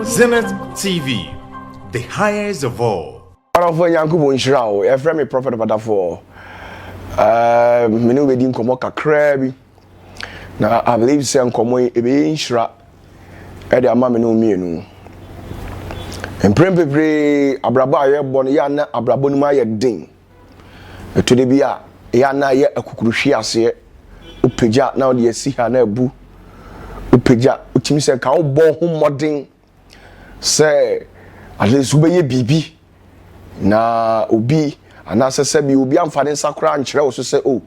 Zenith TV, the highest of all. ɔdɔfoɔ nyankopɔn nhyira wo yɛfrɛ me prophet badafoɔ uh, me ne wobɛdi nkɔmmɔ kakraa bi na i believe sɛ nkɔmmɔ yi ɛbɛyɛ nhyira ɛde ama me ne wo mmienu mprɛn bebree abrabɔ a yɛbɔ no yɛ ana abrabɔ no mu ayɛ den Ɛtɔ da bi a, ɛyɛ a na ayɛ akukuru hwe aseɛ. Wopagya na wode asi ha na abu. Wopagya, wotumi sɛ nka wobɔ ho mmɔden sɛ at least wobɛyɛ biribi na obi anaasɛ sɛbi obi amfa ne nsa koraa nkyerɛ wo so sɛ o oh,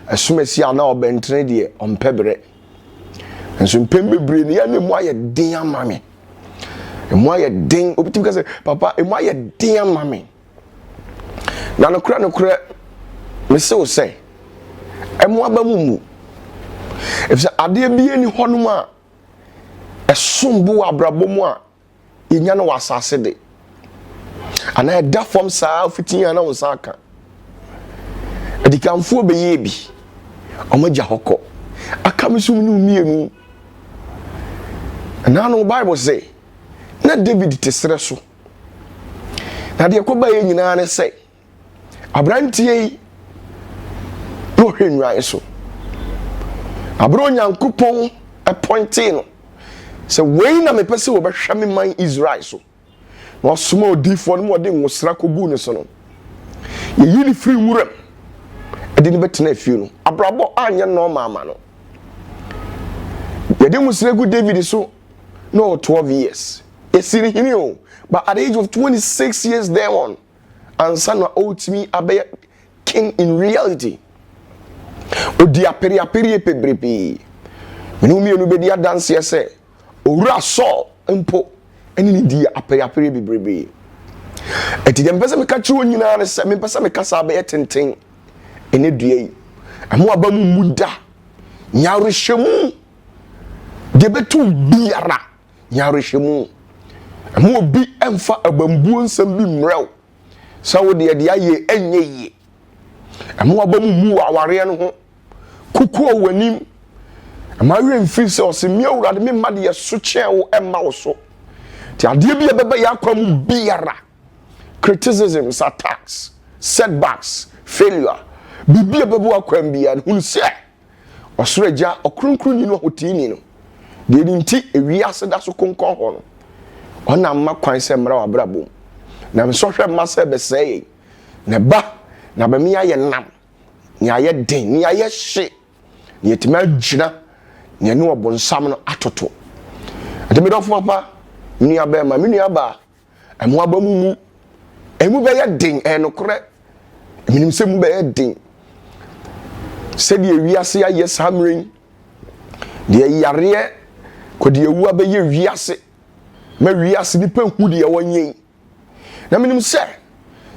ɛsom asi a na ɔbɛntene deɛ ɔmpɛ berɛ. Nso mpɛn bebree no yɛ na emu ayɛ den ama me. Emu ayɛ den, obi tumi ka sɛ papa emu ayɛ den ama me. Na nokorɛ nokorɛ mese wo sɛ, ɛmo aba mu mmu, ɛfiri sɛ adeɛ biara nni hɔnom a ɛsom bo wɔ abrabɔ mu a yɛnya no wɔ asase de anaa ɛda fam saa fiti a na wo nsa aka adikanfoɔ bɛyɛɛ bi wɔn agya hɔ kɔ aka me so mu no mmienu ɛnaa no bible se na david te serɛ so na deɛ ɛkɔba yɛ nyinaa ne sɛ aberanteɛ yi na ɔhwɛ nnwan so aberɛ onyankopɔn apɔintee no sɛ wei na mepɛ sɛ wɔbɛhwɛ me man israel so na ɔsoma odiifoɔ no ma ɔde nwosra kɔguu ne so no yɛyi ne firi wuram ɛde ne bɛtena afie no abrabɔ anyɛ nɔɔma ama no yɛde nwosra gu david so na ɔwɔ twelve years yɛsi no hene o but at the age of twenty six years then on ansa na ɔretumi abɛyɛ king in reality odi apereapereɛ pebrebee mene mmienu bɛdi adanseɛ sɛ owura Saul mpo ɛne ne di apereapereɛ bebrebee ɛti deɛ mepɛ sɛ meka kyerɛ nyinaa ne sɛ mepɛ sɛ meka saa bɛyɛ tenten ɛnɛ dua yi ɛmo aba mu mu da nyarehyɛ mu Deɛ ɛbɛto wo biara, nya awerɛhyɛmu. Ɛma obi mfa abambuo nsɛm bi mmerɛ wo sɛ wo deɛ deɛ ayɛ ɛnyɛ yie. Ɛma waba mu mu wɔ awareɛ no ho. Kukuo wɔ anim. Ɛma awerɛ mfiri sɛ ɔse me awurade me mma deɛ so kyɛn wo ɛmma wo so. Nti adeɛ bi a ɛbɛba yɛ akwa mu biara, criticisms, attacks, setbacks, failure, biribi a ɛbɛba w'akwan biara no, hunu sɛ Ɔsoro Agya, Ɔkronkronni no, Ɔhoteeni no, deɛ ne nti ewiase da so konkɔn hɔ no, ɔna mma kwan sɛ mmra w'abrabɔ mu, na nsɔhwɛ mma sɛ bɛsɛe yɛn, na ɛba na bɛme ayɛ nam, na yɛayɛ den, na yɛayɛ hye, na yɛtumi agyina, na yɛne ɔbonsam no atoto. Ɛnti me dɔfo papa, me nua bɛrima, me nua baa, Ɛmo aba mu mu. Ɛmu bɛyɛ den, ɛyɛ nokorɛ. Menim sɛ mu bɛyɛ den. Sɛdeɛ wiase ayɛ saa mmerɛ yi, deɛ yareɛ kɔdeɛ wu abɛyɛ wiase, ma wiase nipa hu deɛ wɔnyɛ yi. Na menim sɛ,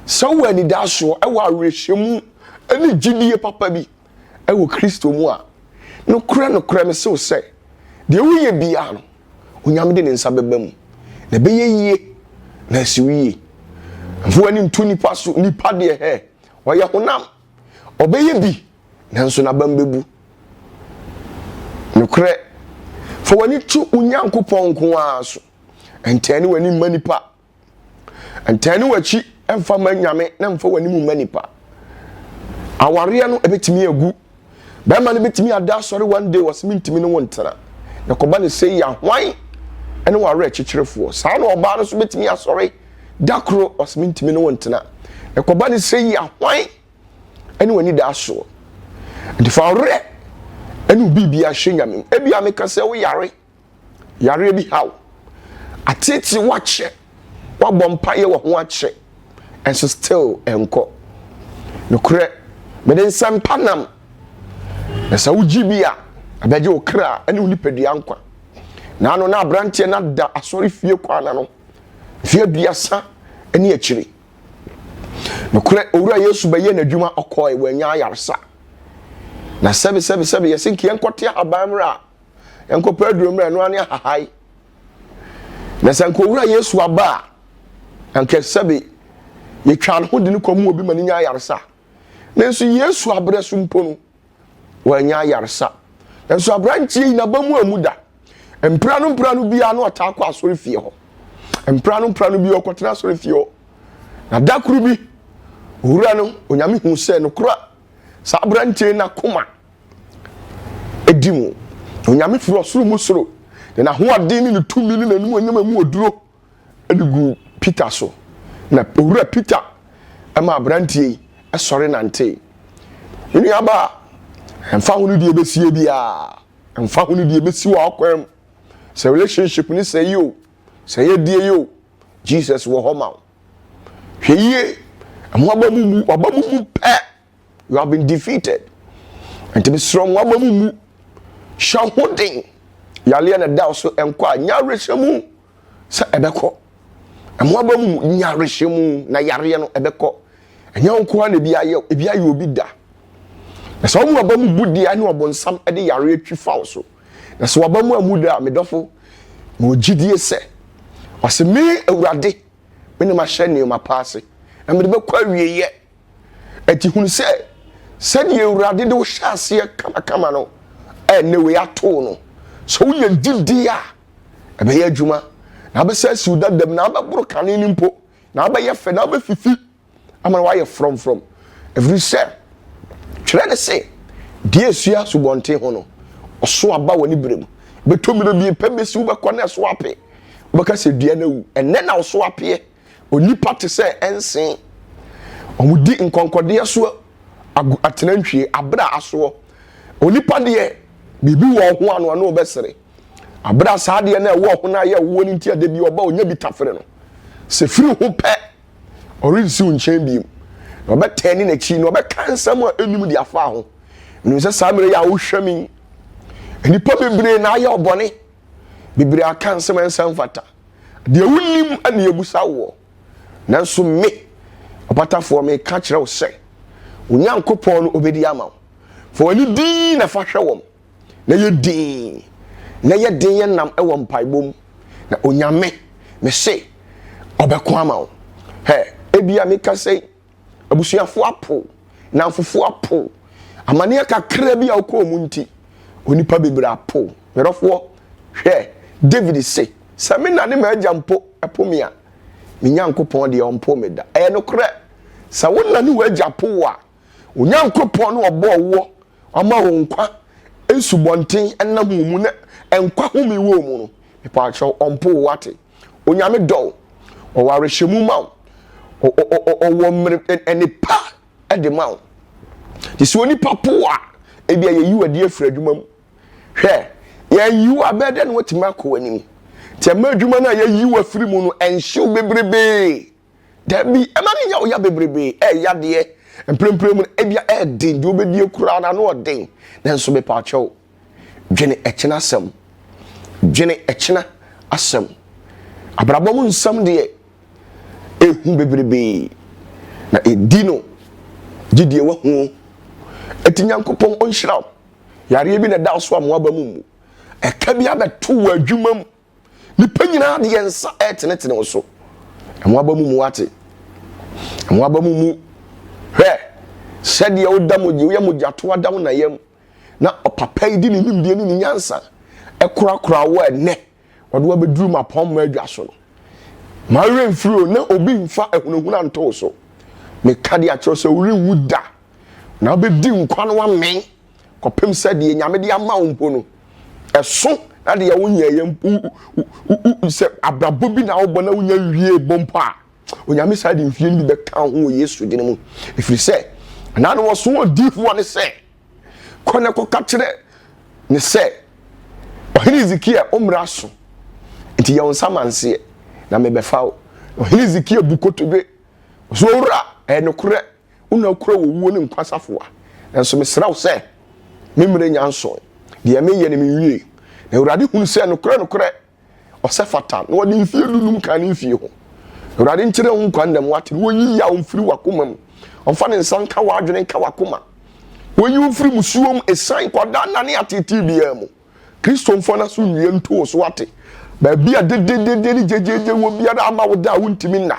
sɛ wowɔ anidasoɔ, ɛwɔ awerɛhyɛmu, ɛne gyidie papa bi. wɔ Kristo mu a, nokorɛ, nokorɛ, mese wo sɛ, deɛ woyɛ biara no, Onyame de ne nsa bɛba mu, na ɛbɛyɛ yie, na asi wo yie. Mfa w'ani nto nipa so, nipa deɛ hɛ, ɔyɛ honam, ɔbɛyɛ bi, nanso n'abam bɛbu. Nokorɛ, fa w'ani to wo Nyankopɔn nko ara so, ɛntɛne w'ani mma nipa. Ntɛne w'akyi mfa ma nyame na mfa w'anim mma nipa. Awareɛ no ɛbɛtumi agu. Bɛrima no bɛtumi ada asɔre one day wɔsɛ mentumi ne wo ntena. Na kɔba ne sɛ yɛ hwan ɛne w'awerɛ kyekyerefoɔ. Saa na ɔbaa no nso bɛtumi asɔre da koro wɔsɛ mentumi ne wo ntena. Na kɔba ne sɛ yɛ hwan ɛne w'ani da asoɔ. Nti fa awerɛ ɛne obi bi ahyɛ nyame. Ebi a meka sɛ wo yare. yareɛ bi haw, ateetee wo akyɛ, woabɔ mpaeɛ wɔ ho akyɛ, ɛnso still ɛnkɔ. Nokorɛ, mede nsɛmpa nam, na sɛ wogye bi a, ɛbɛgye wo kra ne wo nipadua nkwa. Na ano na aberanteɛ no ada asɔre fie kwan ano, mfeɛ aduasa ne akyire. Nokorɛ, Owura Yesu bɛyɛ n'adwuma, ɔkɔe, wanya ayaresa. Na sɛbe sɛbe sɛbe, yɛse nka yɛnkɔte ahaban mmerɛ a, nkɔpɛ aduro mmerɛ ɛno ane ahahae na sɛ nkɔwura yesu aba a anka sɛbe yɛtwa ne ho de ne kɔ mu obi ma ne nya ayaresa nanso yesu aberɛ so mpo no wɔanya ayaresa nanso aberanteɛ yi naba mu amu da mpira no mpira no biara na ɔtaa kɔ asɔre fie hɔ mpira no mpira no biara ɔkɔtena asɔre fie hɔ na da koro bi owura no onyame hu sɛ nokora saa aberanteɛ no akoma di mu. Onyame firi ɔsoro mu soro de n'ahoɔden ne ne tumi ne n'animuonyam a mu oduro de gu Peter so. Na owura Peter ma aberanteɛ yi sɔre nantee. Me nuabaa, ɛmfa ho ne deɛ ɛbɛsie biara, ɛmfa ho ne deɛ ɛbɛsi wɔ akwan mu, sɛ relationship ne sɛ yi o, sɛ yɛ deɛ yi o, Jesus wɔ hɔ ma wo. Hwɛ yie, ɛho aba mu mu, aba mu mu pɛ you have been defeated nti mesrɛ mo aba mu mu hyɛ ho den yareɛ na ɛda so nkɔ a nya awerɛhyɛ mu sɛ ɛbɛkɔ ɛmo aba mu mu nya awerɛhyɛ mu na yareɛ no ɛbɛkɔ ɛnyɛ wo nkoa na ebi ayɛ ebi ayɛ obi da na sɛ wɔn aba mu bu deɛ ne ɔbɔnsam de yareɛ twi fa wo so na sɛ wɔaba mu amu da a medɔfo ma ogyidie sɛ ɔsɛ me awurade me ne mahyɛ nneɛma pa ase na mede bɛkɔ awieeɛ Ɛti hunu sɛ sɛdeɛ awurade de wohyɛ aseɛ kamakama no ɛnɛ wei atoo no sɛ woyɛ gyidie a ɛbɛyɛ adwuma na abɛsɛ asiw dadam na abɛboro kane no mpo na abɛyɛ fɛ na abɛfifi ama no wayɛ frɔmfrɔm ɛfiri sɛ twerɛ ne se deɛ asua asubɔnten ho no ɔso aba wɔ ne berɛ mu bɛtɔ mmerɛ bi pɛ bɛsi wobɛkɔ na ɛso ape wobɛka sɛ dua no awu ɛnɛ na ɔso apeɛ Onipa te sɛ nse. Wɔdi nkɔnkɔdeɛ so agu atenantwie aberɛ a asoɔ. Onipa deɛ, biribi wɔ ɔho ano a na ɔbɛsere. Aberɛ a saa adeɛ no a ɛwɔ ɔho no ayɛ woɔ no nti a da bi ɔba ɔnya bi tafere no, sɛ firi ho pɛ, ɔrensi wo nkyɛn bio. Na ɔbɛtɛɛne n'akyi na ɔbɛka nsɛm a ɛnnim de afa ho. Menim sɛ saa mmerɛ yi a wohwɛ me yi, nnipa bebree na ayɛ ɔbɔne. Bebree aka nsɛm a ɛnsa mfata. Deɛ wonim na yɛbusa woɔ. Nanso me, ɔpatafoɔ, meka kyerɛ wo sɛ, wo Nyankopɔn no ɔbɛdi ama wo. Fa w'ani dinn na fa hwɛ wɔn, na yɛ dinn, na yɛ den yɛ nnam wɔ mpaebɔ mu, na Onyame, mese, ɔbɛko ama wo. Hɛ, ebia meka sɛ, Abusuafo apow, nnamfofo apow. Amanneɛ kakra bi a wokɔɔ mu nti, onipa bebree apow. Medɔfoɔ, hwɛ, David se, Sɛ me na ne m'agya mpo po me a, me Nyankopɔn deɛ, ɔmpow me da. Ɛyɛ nokorɛ, sɛ wo na ne w'agya po wo a, Onyankopɔn no a ɔbɔɔ woɔ, wama wo nkwa nsubɔnten nam wo mu na nkwa home wɔ mu no, mepaakyɛw, ɔmpow wo, woate? Onyame dɔ wo, ɔwɔ awerɛhyɛmu ma wo, ɔwɔ mmere nnepa de ma wo. Te sɛ onipa po a, ebi a yɛyi w'adi afiri adwuma mu. Hwɛ, yɛnyi wo a, bɛyɛ dɛ na watumi akɔ w'anim. Nti ɛma adwuma no a yɛyi w'afiri mu no ɛnhyew bebrebee. Dabi, ɛma no nya wo ya bebrebe, ɛyɛ yadeɛ, mprempren mu no, ebia ɛyɛ den, deɛ wobɛdie koraa no ano ɔden, nanso mepaakyɛw, dwene ɛkyena asɛm, dwene ɛkyena asɛm. Abrabɔ mu nsɛm deɛ, ɛhu bebrebe, na ɛdi no, gye deɛ wahu. Ɛti Nyankopɔn ɔnhyira wo, yareɛ bi na ɛda wo so a mmoaba mu mmu, ɛka bi abɛto wo adwuma mu, Nnipa nyinaa de yɛn nsa retenetene wo so. Ɛho aba mu mu ate. Ɛho aba mu mu hwɛ sɛdeɛ woda mogya woyɛ mogyato ada wo nayam na ɔpapa yi de ne nimdeɛ ne ne nyansa ɛkorakora wo ɛnɛ ɔde wabɛduru ma pɔn mu adwa so no ma werɛ mfiri o na obi mfa ahunahuna nto so meka de akyerɛ sɛ worenwu da na wobɛdi nkwa no amee kɔpem sɛ deɛ nyame de ama wo mpo no ɛso na deɛ wonyɛeɛ sɛ abrabɔ bi na wobɔ na wonya wie bɔ mpo a onyame saa de mfie no bi bɛka ho wɔ yesu dene mu ɛfiri sɛ anaa no wɔso wɔ difoɔ ne sɛ kɔ na kɔka kyerɛ ne sɛ ɔhene hezekia ɔmmra so nti yɛ wo nsa manseɛ na mebɛfa wo ɔhene hezekia bu kotodwe ɔso owura ɛnokorɛ Wo na wokura owuo ne nkwa safoa, nanso mesrɛ wo sɛ, me mmerɛ nnya nsoe. Deɛ mereyɛ no menwie. Na Awurade hunu sɛ nokorɛ nokorɛ ɔsɛ fata, na ɔde mfeɛ du num kaa ne mfie ho. Na Awurade nkyerɛ wo nkwa nnam, wate, na ɔnyi yaw mfiri w'akoma mu. Ɔmfa ne nsa nka w'adwene nka w'akoma. Ɔnyi wo mfiri musuo mu, ɛsiane, kwadaa nna ne ateetee biara mu. Kristo mfa no so nnua nto wo so ate. Baabi a dededede ne gyegyeegye wɔ biara ama wo da a wontumi nna.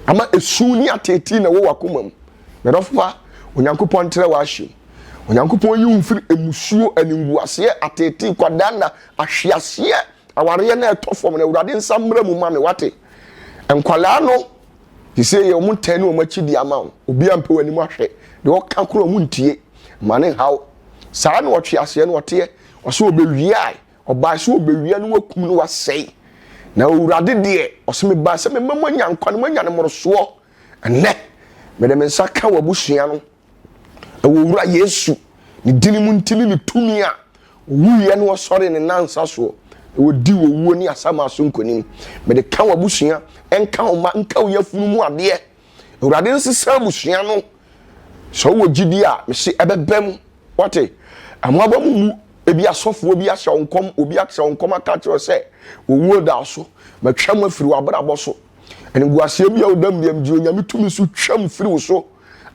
Ama esu ne ateetee na ɛwɔ w'akoma mu. Mɛdɔfo pa, Onyankopɔn ntrɛ w'ahyɛ mu. Onyankopɔn yi wo mfiri mmusuo, animguaseɛ, ateetee, kwadanna, ahweaseɛ, awareɛ no a ɛtɔ fam no. Awurade nsa mmra mu ma me, wate? Nkwadaa no, sisei yɛ wɔn ntɛn ne wɔn akyi de ama wo. Obiara mpɛ w'anim ahwɛ. Deɛ ɔka korɔ wɔn ntie. Ma ne nhaw. Saa na ɔtweaseɛ no ɔteɛ, ɔse ɔbɛwia a, ɔbae sɛ ɔbɛwia na wakum na wasɛe. Na Awurade deɛ, ɔse mebae sɛ mema moanya nkwa na moanya no mmorosoɔ. Ɛnnɛ, mede me nsa ka w'abusua no, ɛwɔ Owura Yesu ne dini mu nti ne ne tumi a ɔwuiɛ na ɔsɔree ne nansa soɔ na ɔdii owuo ne asamaaso nkonim. Mede ka w'abusua, ɛnka wo mma, nka wo yafunu mu adeɛ. Awurade nsesa abusua no. Sɛ wowɔ gyidi a, mese ɛbɛba mu. Wate? Ɛmoaba mu mu ebi asɔfoɔ bi ahyɛ wo nkɔm, obi akyerɛ wo nkɔm aka kyerɛ sɛ, owuo da so, matwam afiri w'abrabɔ so. Animguaseɛ bi a wodam biam de Onyame tumi so twam firi wo so.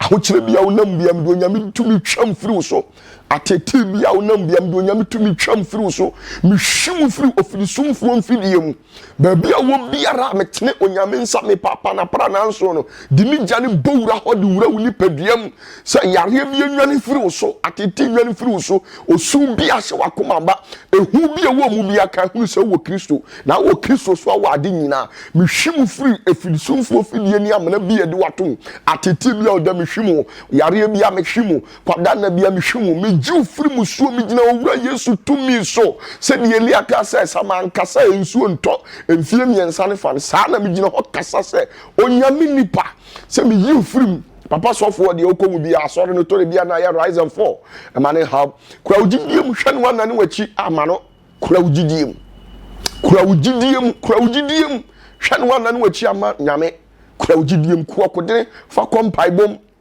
Ahokyerɛ bi a wonam biam de Onyame tumi twam firi wo so. Atetee bi a wonam biam de Onyame tumi twam firi wo so. Mehwi wo firi ofirisumfoɔ mfidie mu. Baabi a wɔ biara a metene onyame nsa me paapa na pra nanso no de me gya no bɔ wura hɔ de wura wo nipadua mu sɛ yareɛ bi enwane firi wo so atete nwane firi wo so osu bi ahyɛ wakoma ba ehu bi ɛwɔ mu bi aka hunu sɛ wɔ kristo na wɔ kristo so awɔ ade nyinaa mehwi mu firi efirisumfoɔ fidie ne amena bi a ɛde watom atete bi a ɔda mehwi mu yareɛ bi a mehwi mu Kwadanna bi a mehwɛ mu, megye wo firi musuo, megyina Owura Yesu tumi so. Sɛdeɛ Elia kaa sɛ, Sɛ manka sɛ nsuo ntɔ mfeɛ mmiɛnsa ne fa no, saa na megyina hɔ kasa sɛ Onyame nipa, sɛ meyi wo firi mu. Papa sɔfoɔ deɛ wokɔ mu biara, asɔre no tore biara na ayɛ rise and fall, mma no nhaw. Kura wo gyidie mu, hwɛ ne w'anan ne w'akyi, ama no. Kura wo gyidie mu. Kura wo gyidie mu, kura wo gyidie mu, hwɛ ne w'anan ne w'akyi, ama Nyame. Kura wo gyidie mu, ku ɔkodene, fa kɔ mpaebɔ mu.